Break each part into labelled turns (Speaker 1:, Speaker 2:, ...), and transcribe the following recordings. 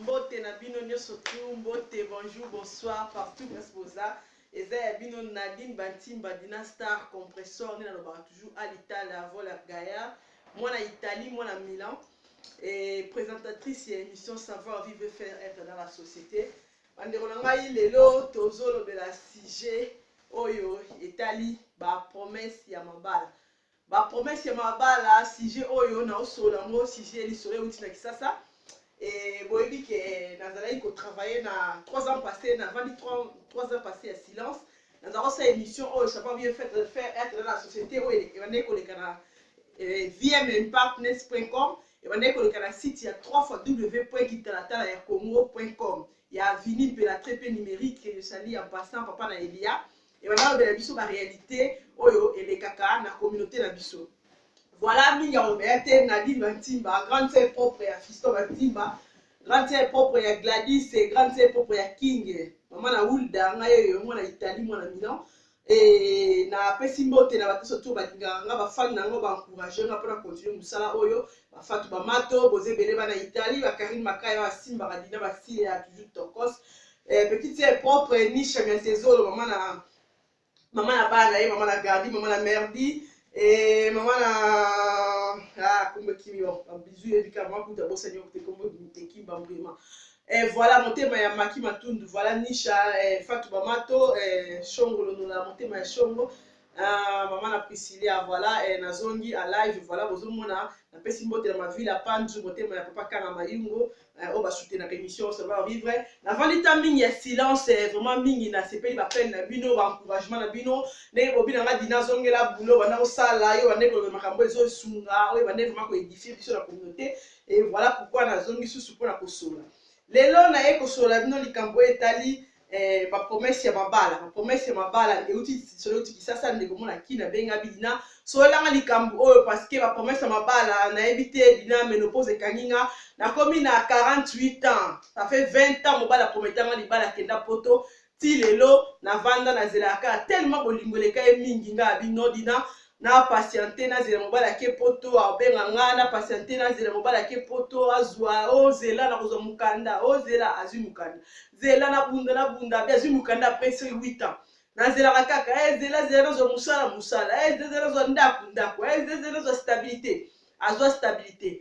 Speaker 1: Mbote na bino nioso tout mbote bonjour bonsoir partout place boza eza ya bino Nadine Bantimba Dina Star compressor nde nalobaka toujours alitala voleur gaillard mwana Italie mwana Milan et présentatrice ya émission savoir vivre et faire être dans la société bandeko na ngai lelo tozolobela sujet oyo etali ba promesse ya mabala Ba promesse ya mabala sujet oyo nao solo yango sujet lisolo euti na Kisasa et boyebi ke nazalaki ko travailler na 3 ans passé na vandi 3, 3 ans passé ya silence nazala kosala émission oyo ça va bien faire faire être na société oyo ebandaki koleka na eh, vmpartners.com ebandaki koleka na site ya 3 fois www.kitalatala ya congo.com ya vini mpe la très peu numérique que je salie en passant papa na elia Et ba balobela biso ba realite oyo elekaka na communaute na biso. Voilà mingi ya Robert te Nadine Bantimba, grande sœur propre ya Fiston Bantimba, grande sœur propre ya Gladys et grande sœur propre ya King. Maman na Hulda ngai oyo mwana Italie mwana Milan. Et na pesi mbote na bato sotu balingaka nga bafani na yango ba encourager nga mpona continuer mosala oyo bafatu bamato boza ebele bana Italie ba Karine Makaya basimbaka dina basile ya toujours tokos Eh, petite fille est propre, eh, Nisha Miantezolo, maman na, maman na bana, eh, maman na Gardi, maman na Merdi, et eh, maman na, ah, kumbe kimi, oh, ba bisous, et bika, maman kuta bosa nyo, te kumbe te kimba mbrima. Eh, voilà, motema ya Maki Matundu, voilà Nisha, eh, Fatou Bamato, eh, Shongo Lonola, motema ya Shongo, ah, maman na Priscilla, voilà, eh, nazongi, à live, voilà, bozomona, napesi mbote na ma ville, à Panzu, motema ya Papa Kanga Mayungo, Eh, oyo basutenaka émission ça va vivre navandi ta mingi ya silence eh, vraiment mingi nasepeli bapene na bino baencouragement na bino ndenge bobi na nga dina azongela bulo banda kosala yo bande koloba makambo ezosunga oyo bande vraiment koedifie biso na communauté e voilà pourquoi nazongi susu mpona kosola lelo naye kosola bino likambo oyo etali eh, ba promesse ya mabala ba promesse ya mabala euti solo euti kisasa ndeko mona kina benga bidina sololanga likambo oyo parce que ba promesse ya mabala nayebi te bina menopause ekangi nga nakomi na 48 ans ça fait 20 ans mobala prometanga libala kenda poto ti lelo navanda nazelaka tellement bolingo eleka ye mingi nga bino dina na patiente nazela mobali ake poto abenga nga na patiente nazela mobali ake poto azwa ozela oh, na kozwa mokanda ozela oh, azwi mokanda zela na bunda na bunda be azwi mokanda après ce 8 ans nazelaka kaka eh, zela zela nazwa mosala mosala eh, zela nazwa ndako ndako eh, zela nazwa stabilité azwa stabilité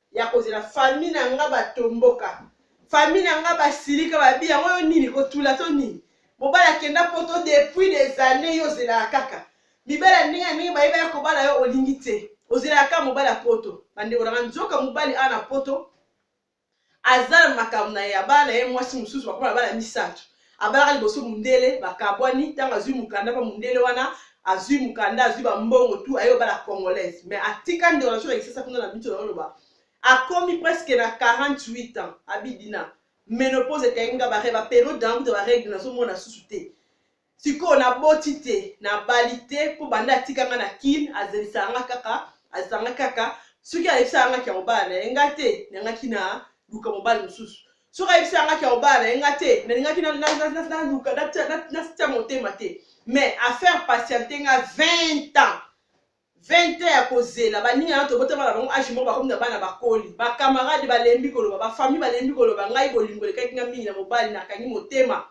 Speaker 1: ya kozela famille na nga batomboka famille na nga basilika babi yango yo nini kotula to nini mobali akenda poto depuis des années yo ozelaka kaka mibali ya ndenge ya ndenge bayeba ya kobala yo olingi te ozelaka kaka mobali ya poto bandeko na nga nzoka mobali awa na poto aza na makambo na ye abala na ye mwasi mosusu bakoma na bana misato Abalaka liboso mundele bakabwani tango azui mukanda po mundele wana azui mukanda azui ba mbongo tout aye obala congolaise mais atika ndeko na biso na kisasa kuna na bitu nazo loba akomi presque na 48 ans abi dina menopause ekangi nga ba ba periode na nga kutu ba regle nazo mona susu te sikoyo na boti te na bali te po banda atika nga na kin azelisaka nga kaka azanga kaka soki ayebisaka nga kia mobala na ye nga te na nga kina luka mobali mosusu soki ayebisi yanga ke obala na ye nga te nalingaki naluka natia motema te mais affaire patiente nga 20 ans 20 ans ya kozela baninga na tobotama na bango age moko bakomi na bana bakoli bakamarade balembi koloba bafamille balembi koloba ngai bolingo elekaki nga mingi na mobali nakangi motema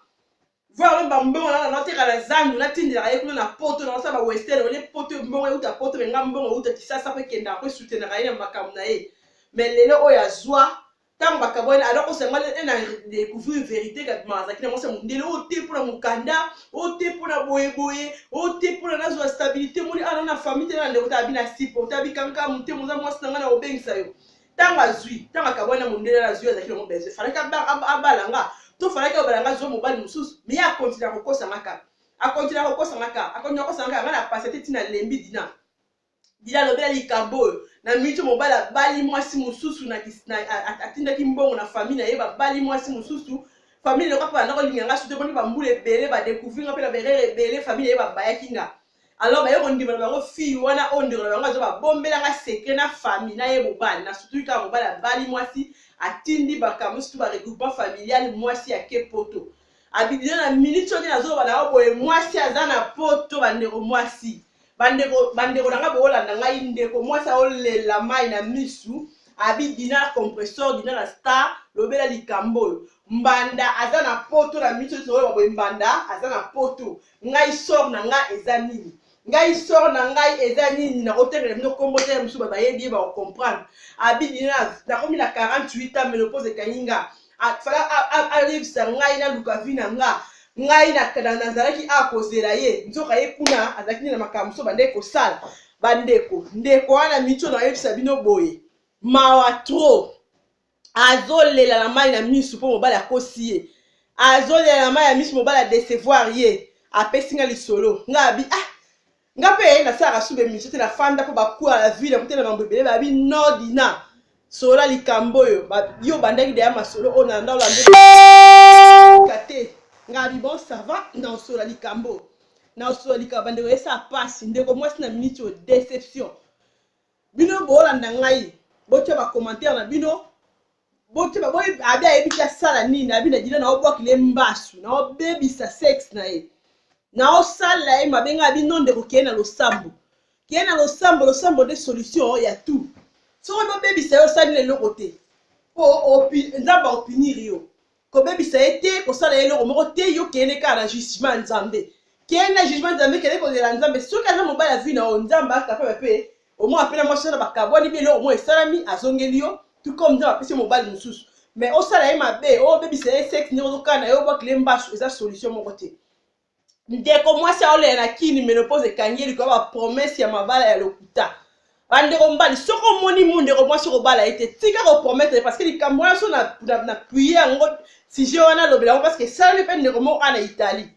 Speaker 1: voir même bambongo nanga nateka na zandu natindelaka ye kuna na poto nakosala ba western oye poto mbongo euta poto me nga mbongo euta kisasa mpe kendaka mpe soutenaka ye na makambo na ye me lelo oyo azwa ntango bakabwani alors osanga e na découvrir vérité kabima azalaki na mwasi ya mondele oyo te mpo na mokanda oyo te mpo na boyeboye oyo te mpo na nazwa stabilité moni ana na famille te na ndeko ta abi na sipo ta abi kankamu te moza mwasi na ngai na kobengisa yo ntango azwi ntango akabwani na mondele wana azwi azalaki nango besoin falaki abala nga to falaki abala nga azwa mobali mosusu miye akontinua kokosa nga kaka akontinua kokosa nga kaka akontinua kokosa nga kaka nga na pasa te ntina lembi dina dina alobela likambo oyo na miniti mobali abali mwasi mosusu atindaki mbongo na famille na ye babali mwasi mosusu famille eloko mpe bandako olinga nga soki eboni bambula ebele badecouvri nga mpe na berere ebele famille na ye babayaki nga alors baye kondima na bango fille wana oyo ndeko na bango aza babombela nga secret na famille na ye mobali na sutuki kaka mobali abali mwasi atindi bakambo sutu ba regroupement familial mwasi ake poto abidina na minute soki nazoloba na yo boye mwasi aza na poto bandeko mwasi bandeko bandeko na nga boolanda ngai ndeko mwasi aolela mai na misu abi dina compressor dina na star lobela likambo oyo mbanda aza na poto na miso ezoloba boye mbanda aza na poto ngai sor na ngai eza nini ngai sor na ngai eza nini nakotengela bino kombo te ya mosusu bayebi ye bakocomprendre abidi na nakomi na 48 ans menopose ekangi nga fala ayebisa ngai naluka vi na nga ngai nazalaki a kozela ye nzoka ye kuna azalaki nde na makambo mosusu bandeki kosala bandeko ndeko wana mitio nayebisa bino boye mawa trop azolela na mai na miso mpo mobali akosi ye azolela na mai ya miso mobali adecevoir ye apesi nga lisolo nga abi ah nga mpe nasalaka suba emission te nafanda mpo bakuwa na vie na kotela mambo ebele babi no dina solola likambo oyo yo obandaki deya masolo oyo na ndao landeka te nga abi bon sava naosolola likambo naosolola likambo bandeko esala mpasi ndeko mwasi na miniti oyo deception Bino bolanda ngai botia ba commentaire na bino botia ba boye abi ayebi te asala nini abi na dina na obwakile ye mbasu na obebisa sexe na ye na osala ye mabe ngai abi non ndeko keye na losambo keye na losambo losambo nde solution ya tout soki bobebisa ye osali na eloko te po nzambe aopinir yo kobebisa ye te kosala ye eloko moko te yo kende kaka na jugement ya nzambe kende na jugement nzambe kende kolela nzambe soki aza mobali ya vi na yo nzambe akapaba mpe omona mpe na mwasi wana bakabwani mpe eloko moko esalami azongeli yo tout comme nzambe apesi mobali mosusu mais osala ye mabe obebisa ye sexe ndenge ozokana ye obwakile mbasu eza solution moko te ndeko mwasi aolela na kini menopause ekangi ye likolo ya bapromese ya mabala ya lokuta bandeko mbali soki omoni mu ndeko mwasi okobala ye te tika koprometre parce que likambo wana so napuye yango sujet wana alobela yango parce que esalami mpe ndeko moko a na italie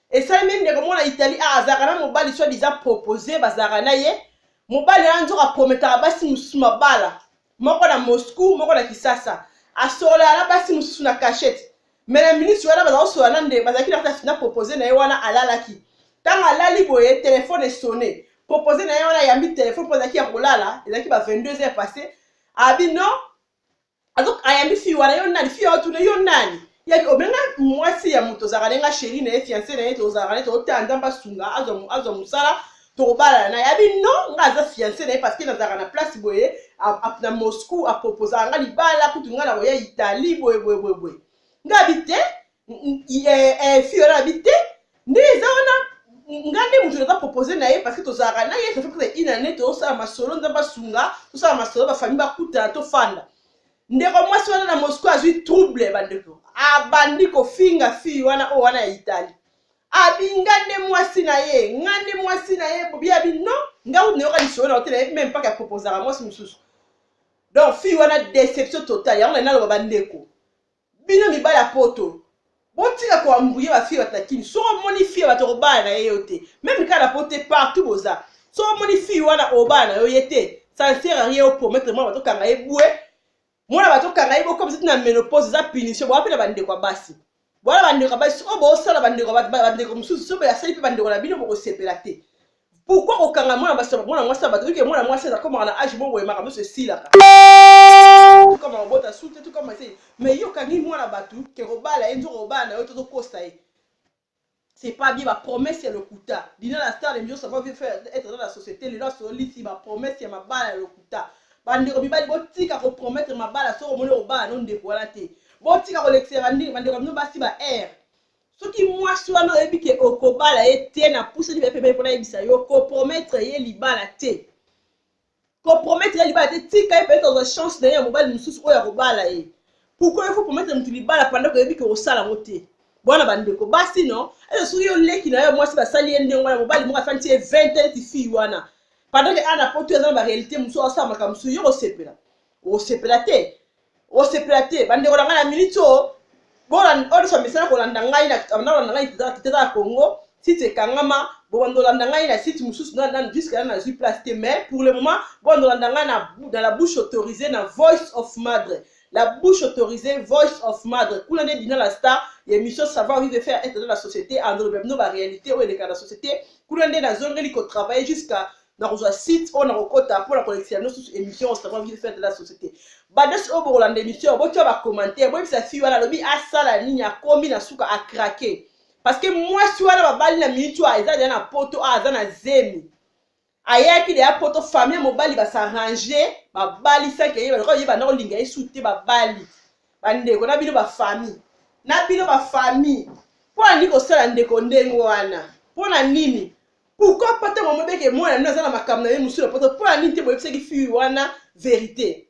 Speaker 1: esalami ye ndeko moko na italie a azalaka na mobali soit disant propose bazalaka na ye mobali wana nzoka aprometaka basi mosusu mabala moko na moscou moko na kisasa asololaka na basi mosusu na cachete me na minisi wana baza kosolola na nde bazalaki na kati na propose na ye wana alalaki ntango alali boye telefone esone propose na ye wana ayambi telefone mpo azalaki ya kolala ezalaki ba 22 heures passe abi no ayambi fii wana yo nani fii aotuna yo nani yabi obenga mwasi ya moto ozalaka na ye nga sheri na ye fiance na ye tozalaka na ye totala nzambe asunga azwa mosala tokobalana na yabi no nga aza fiance na ye parce que nazalaka na place boye na moscou aproposaka nga libala kutu nga nakoya italie boye boye boye boye nga abi te fi wana abi te nde eza wana nga nde moto naza propose na ye parce que tozalaka na ye tofe kuta ina ne tozosala masolo nza basunga tosala masolo bafamille bakutana tofanda ndeko mwasi wana na moscou azwi trouble bandeko abandi kofinga fi wana oyo wana ya italie abi nga nde mwasi na ye nga nde mwasi na ye bobi abi non nga uti nayoka lisolo na otela ye meme paka ya proposaka mwasi mosusu donc fille wana déception totale yango na naloba bandeko bino mibali ya poto botika koambuye bafille bato na kini soki omoni fille bato kobala na ye yo te meme kaka na po te partout boza soki omoni fille wana obala na yo ye te ça ne sert à rien opromettre mwana bato okanga ye bwe mwana bato kanga ye bokomisa ti na menopause eza punition boa mpe na bandeko ya basi boa na bandeko ya basi soko bosala bandeko bandeko mosusu soki asali mpe bandeko na bino bokosepela te pourkui kokanga mwana basi mwana mwasi ya bato oyoke mwana mwasi azakomaka na age moko boye makambo nyonso esilaka tukama kobota sute tukama te mai yo okangi mwana bato ke kobala ye nzoko kobala na yo tozokosa ye C'est pas bien ba promesse ya lokuta. Dina la star de Mbios avant veut faire être dans la société lelo asololisi ba promesse ya mabala ya lokuta. Ba ndeko mibali botika ko promettre mabala soki omoni okobala no ndeko wana te. Botika kolekisa ba ndenge ba ndeko bino basi ba air. Soki mwasi wana oyebi ke okobala ye te na pusani pe pembeni pona yebisa yo ko promettre ye libala te. ko promettre ye libala te tika ye peut-être azwa chance na ye ya mobali mosusu oyo akobala ye pourquoi ifo promettre motu libala panda koyebi ke osala yango te bwana bandeko basi no eza soki yo leki na yo mwasi basali ye ndenge wana mobali moko afandi ye 20 ans ti fille wana panda ke ana poto eza na barealité mosusu asala makambo mosusu yo kosepela okosepela te osepela te bandeko na ngai na miniti oyo oyoso misala kolanda ngai nakolanda ngai kiteza ya congo site ekangama bobanda olanda ngai na site mosusu juske na nazwi place te mais pour le moment bobanda olanda ngai na la bouche autorisée na voice of madre la bouche autorisée voice of madre kuna nde dina la star ya émission savoir vive faire être dans la société andoloba bino baréalité oyo eleka na société kuna nde nazongeli kotravaille jusqu'à nakozwa site oyo nakokota mpo na kolekisa yango susu émission osama ville fin de la société badesi oyo bokolanda émission botya bacommentaire boyebisa fille wana alobi asala nini akomi na suka akrake parce que mwasi wana babali na miniti oyo eza deya na poto oyo aza na zemi ayaki deya poto famille ya mobali basarange babali sanke ye balokola ye banda kolinga ye su te babali bandeko na bino bafamille na bino bafamille mpo na nini kosala ndeko ndenge wana mpo na nini pourquoi pas ntango amobe ke mwana nino aza na makambo na ye mosusu na poto mpo ya nini te boyebisaki fille wana verité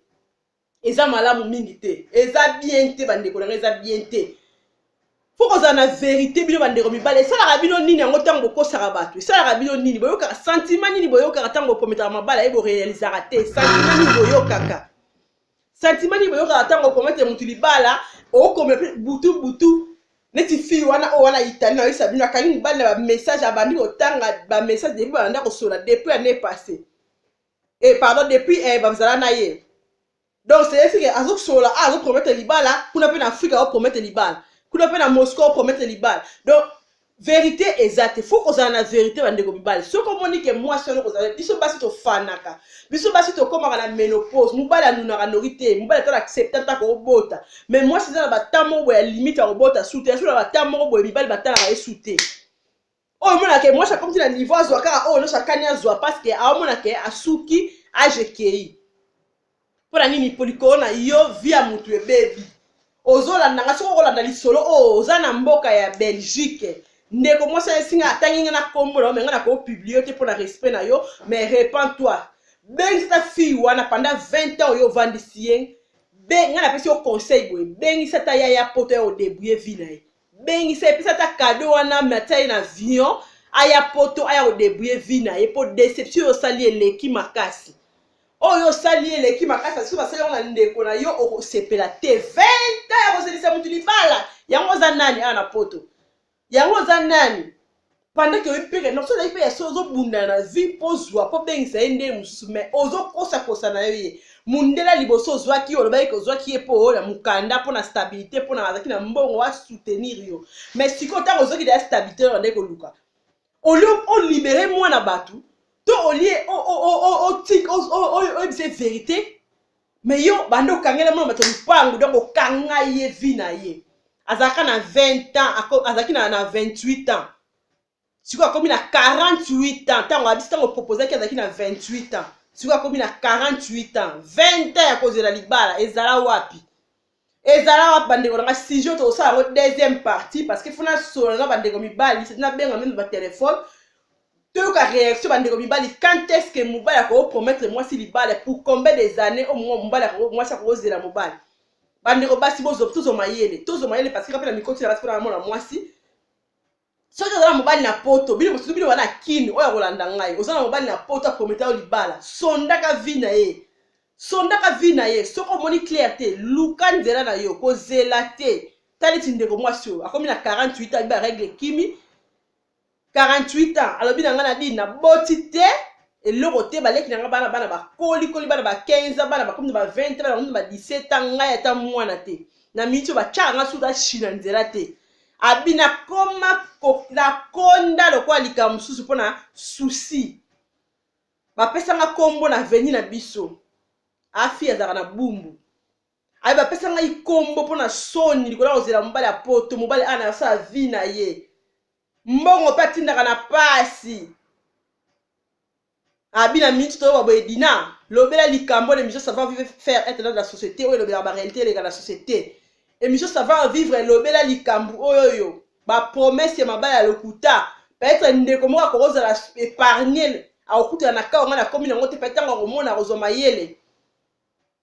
Speaker 1: eza malamu mingi te eza bien te bandeko na ngai eza bien te fo kozala na verité bino bandeko mibale esalaka bino nini yango ntango bokosaka bato esalaka bino nini boyokaka santima nini boyokaka ntango bokometaka mabala ye borealizaka te santima nini boyokaka sentiment nini boyokaka ntango okomete motu libala okomela mpe butu butu neti fille wana oyo wana itali na oyesa bino akangi mobali na bamessage abandi kotanga bamessage depuis babanda kosola depuis année passé e eh, pardon depuis eh, bazala na ye donc cestike azosola a azopromete libala kuna mpe na afrika aopromete libala kuna mpe na moscou aopromete libala donc verite eza te fo kozala na verite bandeko mibali soki omoni ke mwasi wana kozala biso basi tofanaka biso basi tokomaka na menopause mobali anunaka noki te mobali atala accepte ata kobota mais mwasi eza na bata moko boye ya limite ya kobota su te azolaa bata moko boye mibali batalaka ye su te oyo omonaka ke mwasi akomisi na niveau azwa kaka oyo nyonso akani azwa parce ke aomonaka asuki age ekei pona nini po likolo na yo vie ya mutu ebebi ozolanda nga soki okolanda lisolo oyo oh, oza na mboka ya belgique ndeko mwasi ayesinga atangi nga na kombo na yo me nga nakopublie te mpo na respect na yo mais repent toi bengisa fille wana panda 20 ans oyo ovandisi ye nga napesi yo conseil boye bengisa ta yaya poto ya odebouye vi na ye bengisa ye pesa ata kado wana me atia ye na avion aya poto aya kodebrouye vie na ye mpo deception oyo osali eleki makasi oyo osali ye eleki makasi soki basali yango na ndeko na yo okosepela te 20 ta ya kozelisa motu libala yango oza nani awa na poto yango oza nani pendant que oyebi mpe ke non so ozali mpe ya so ozobunda na vie mpo ozwa mpo obengisa ye ndenge mosusu mais ozokosakosa na yo ye mundela liboso ozwaki ye olobaki ke ozwaki ye mpo na mokanda mpo na stabilité mpo na azalaki na mbongo asoutenir yo mais sikoyo ntango ozwaki deya stabilité yo bandaki koluka olio olibere mwana bato to olie oyebisa ye verité mais yo banda okangela mwana bato lupangu donc okanga ye vie na ye azalaka na 20 ans azalaki na, na 28 ans sikoyo akomi na 48 ans ntango abisi ntango proposaki azalaki na 28 ans sikoyo akomi na 48 ans 20 ans ya kozela libala ezala wapi ezala wapi bandeko na ngai sujet tokosala yango deuxième partie parce que fona solo na bandeko mibali seti nabenga meme batelefone toyoka réaction bandeko mibali quand est ce que mobali akopromettre mwasi libala pour combien des années o oh, mobali mwasi akokozela mobali bandeko basi tozwa mayele tozwa mayele parce que kape na mikoti na basi mpona namona mwasi soki oza na mobali na poto bino mosusu bino wana kini oyo akolanda ngai oza na mobali na poto aprometa yo libala sondaka vi na ye sondaka vi na ye soki omoni claire te luka nzela na yo kozela te ta neti ndeko mwasi oyo akomi na 48 ans biba regle ekimi 48 ans alobi na ngai na dini na boti te eloko te baleki na ngai bana bana bakolikoli bana ba 15 ans bana bakomi na ba 20 bana bakomi na ba 17 ans ngai ata mwana te na miniti oyo batyaka ngai suda china nzela te abi nakoma nakonda lokola likambo mosusu mpo na susi bapesanga nkombo na veni na biso afi ah, azalaka na bumbu aye bapesa ngai nkombo mpo na soni likolo ya kozela mobali ya poto mobali ana asala vi na ye mbongo mpe atindaka na pasi abi na minute toyoba boye dina lobela likambo na émission savoir vivre faire être dans la société oyo elobelaka baréalité eleka na société émission savoir vivre elobela likambo oyo oyo bapromese ya mabala ya lokuta peut-être ndeko moko akoki kozala épargne akokutana na kawa ngai nakomi nango te peut-être ntango akomona akozwa mayele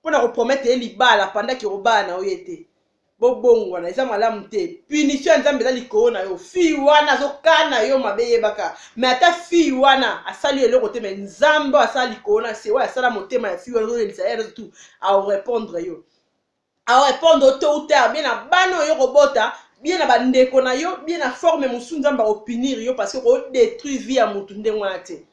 Speaker 1: mpo na koprometre ye libala panda kirobala na yo ye te bobongwana eza malamu te punition ya nzambe eza likolo na yo fille wana azokana yo mabe yebaka me ata fille wana asali yo eloko te me nzambe oyo asala likolo na se oyo asala motema ya fille wana azolelisa ye tout aorepondre yo aorepondre yo to ou tard bie na bana oyo kobota bie na bandeko na yo bie na forme mosusu nzambe aopinire yo parce que okodetruire vie ya motu ndenge wana te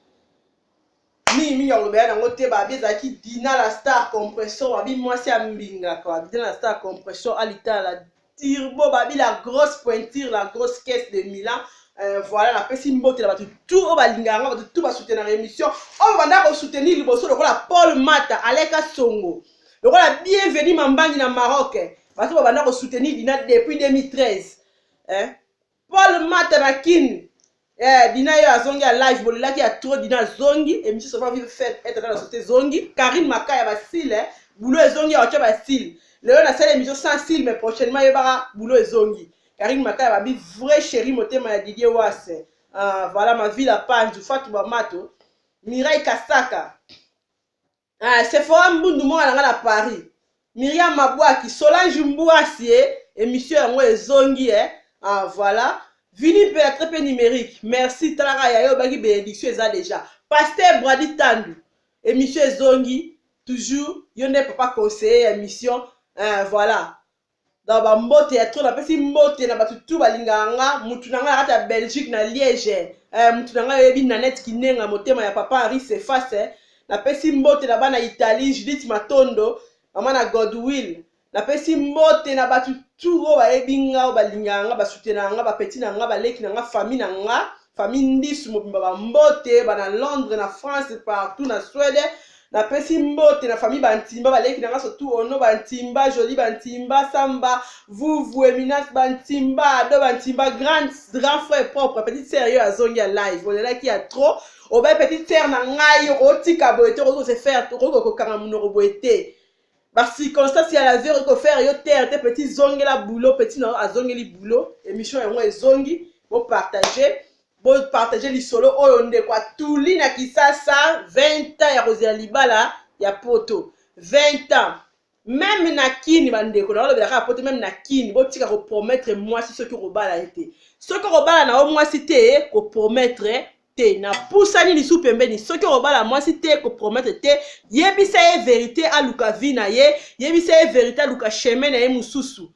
Speaker 1: mingi mingi akolobela nango te babi ezalaki dina la star compression babi mwasi ya mbingaka babi dina la star compression alitala la turbo babi la grosse pointure la grosse caisse de milan Euh, voilà napesi mbote na bato tu oyo balingaka nga bato tu basoutenaka émission oyo banda kosoutenir liboso lokola paul mata aleka songo lokola bienvenu mambangi na maroc bato babanda kosoutenir dina depuis 2013 eh? Paul Mata na Kin. Eh, Dina yo azongi ya live bolelaki ya trop Dina azongi emission sova vive fête être dans la société zongi Karine Makaya basile boulot ezongi ya wacha basile lelo na sala emission sans style mais prochainement yebaka boulot ezongi Karine Makaya babi vrai chérie motema ya Didier Wasse ah, voilà ma ville à Panzu Fatou Bamato Mireille Kasaka Ah, Sephora Mbundu mwana na nga na Paris. Myriam Mabwaki, Solange Mbwasi, eh, émission yango ezongi eh. Ah voilà. Vini mpe ya très peu numérique. Merci talaka ya yo baki bénédiction eza déjà. Pasteur Brady Tandu, émission ezongi toujours yo nde papa conseiller ya émission. Eh, voilà. Donc ba mbote ya trop napesi mbote na bato tout balingaka nga mutu na nga na kati ya Belgique na Liège eh, mutu na nga yoyebi Nanette Kinenga motema ya papa Henri Cephas eh. Napesi mbote na bana Italie Judith Matondo mama na Godwill napesi mbote na bato tout oyo bayebi nga oyo balingaka nga basutenaka nga bapeti na nga baleki na nga famille na nga famille ndisu mobimba bambote bana londres na france partout na swede napesi mbote na famille bantimba baleki na nga surtout ono bantimba joli bantimba samba vuvu eminas bantimba ado bantimba grand, grand frère propre petite sœur yo azongi ya live olelaki ya trop obe petite sœur na ngai otika boye te okoki kose faire okoki kokanga monoko boye te ba circonstances ya la vie eko faire yo terre te petit zongela boulot petit na yo azongeli boulot émission yango ezongi bo partager bo partager lisolo oyo ndeko atuli na kisasa 20 ans ya kozela libala ya poto 20 ans meme na kini bandeko naolobela kaka poto meme na kini botika kopromettre mwasi soki okobala ye te soki okobala na yo mwasi te kopromettre te napusani lisu pembeni soki okobala mwasi te koprometre te yebisa ye verite aluka vi na ye yebisa ye verite aluka chemin na ye mosusu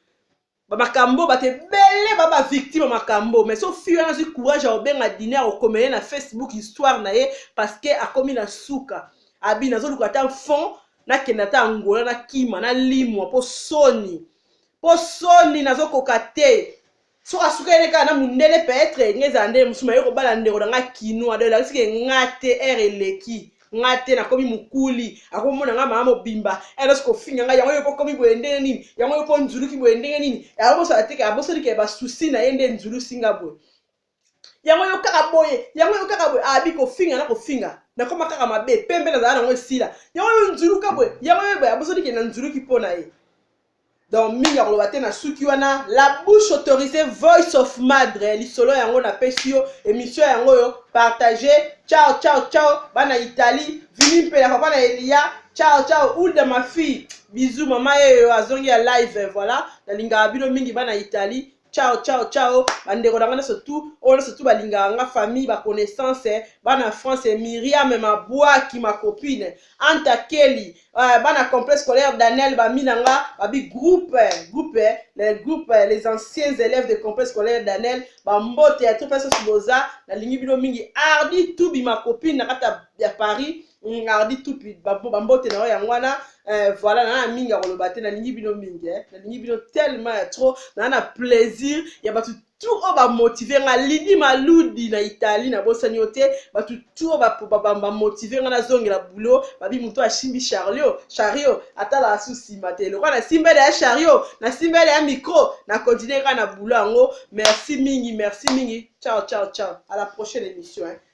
Speaker 1: bamakambo bato ebele ba bavictime makambo mais so fi wana azwi courage ya kobenga dine ya kokomele na facebook histoire na ye parce que akomi na suka abi nazoluka ata fond nakenda ata angola nakima nalimwa mpo soni mpo soni nazokoka te soki asukeli ne kaka na mundele peut-être nga ezala ndenge mosusu maye kobala ndeko na nga kinois donc elakisi ke nga te ere eleki nga te nakomi mokuli akomona nga mama mobimba elos kofinga nga yango yo pokomi boye ndenge nini yango yo po nzuluki boye ndenge nini abosana te abosani ke basusi na ye nde nzulusi nga boye yango yo kaka boye yango yo kaka boye abi kofinga na kofinga nakoma kaka mabe pembe nazala nango esila yango yo nzuluka boye yango yo boye abosani ke na nzuluki mpo na ye donc mingi akoloba te na suki wana la bouche autorisée voice of madre lisolo yango napesi yo émission yango oyo partage ciao ciao ciao bana italie vini mpela papa na eliya ciao ciao ulda ma fille bizu mama yeyo azongi ya live voilà nalingaka bino mingi bana italie ciao ciao ciao bandeko na nga nyonso tu oyo nyonso tu balingaka nga famille baconnaissance eh, bana france eh, miriam mabwaki macopine anta keli eh, bana complexe scolaire daniel bami na nga babi groupe eh, groupe eh, les groupes eh, les anciens élèves de complexe scolaire daniel bambote ya topesa soboza nalingi bino mingi ardi tubi macopine na kati ya paris Mm, ardi tupi bambote na yo yango wana eh, voilà naa na mingi ya koloba te nalingi bino mingi eh. nalingi bino tellement ya trop naa na plaisir ya bato tu oyo oh, bamotive nga lidi maludi na italie nabosani yo te bato tu oyo oh, bamotive nga nazongela boulot babi moto asimbi charlio chario atalaka su nsima te lokwa nasimbele ya chario nasimbele ya micro na continue kaka na boulot yango merci mingi merci mingi ciao ciao ciao à la prochaine émission eh.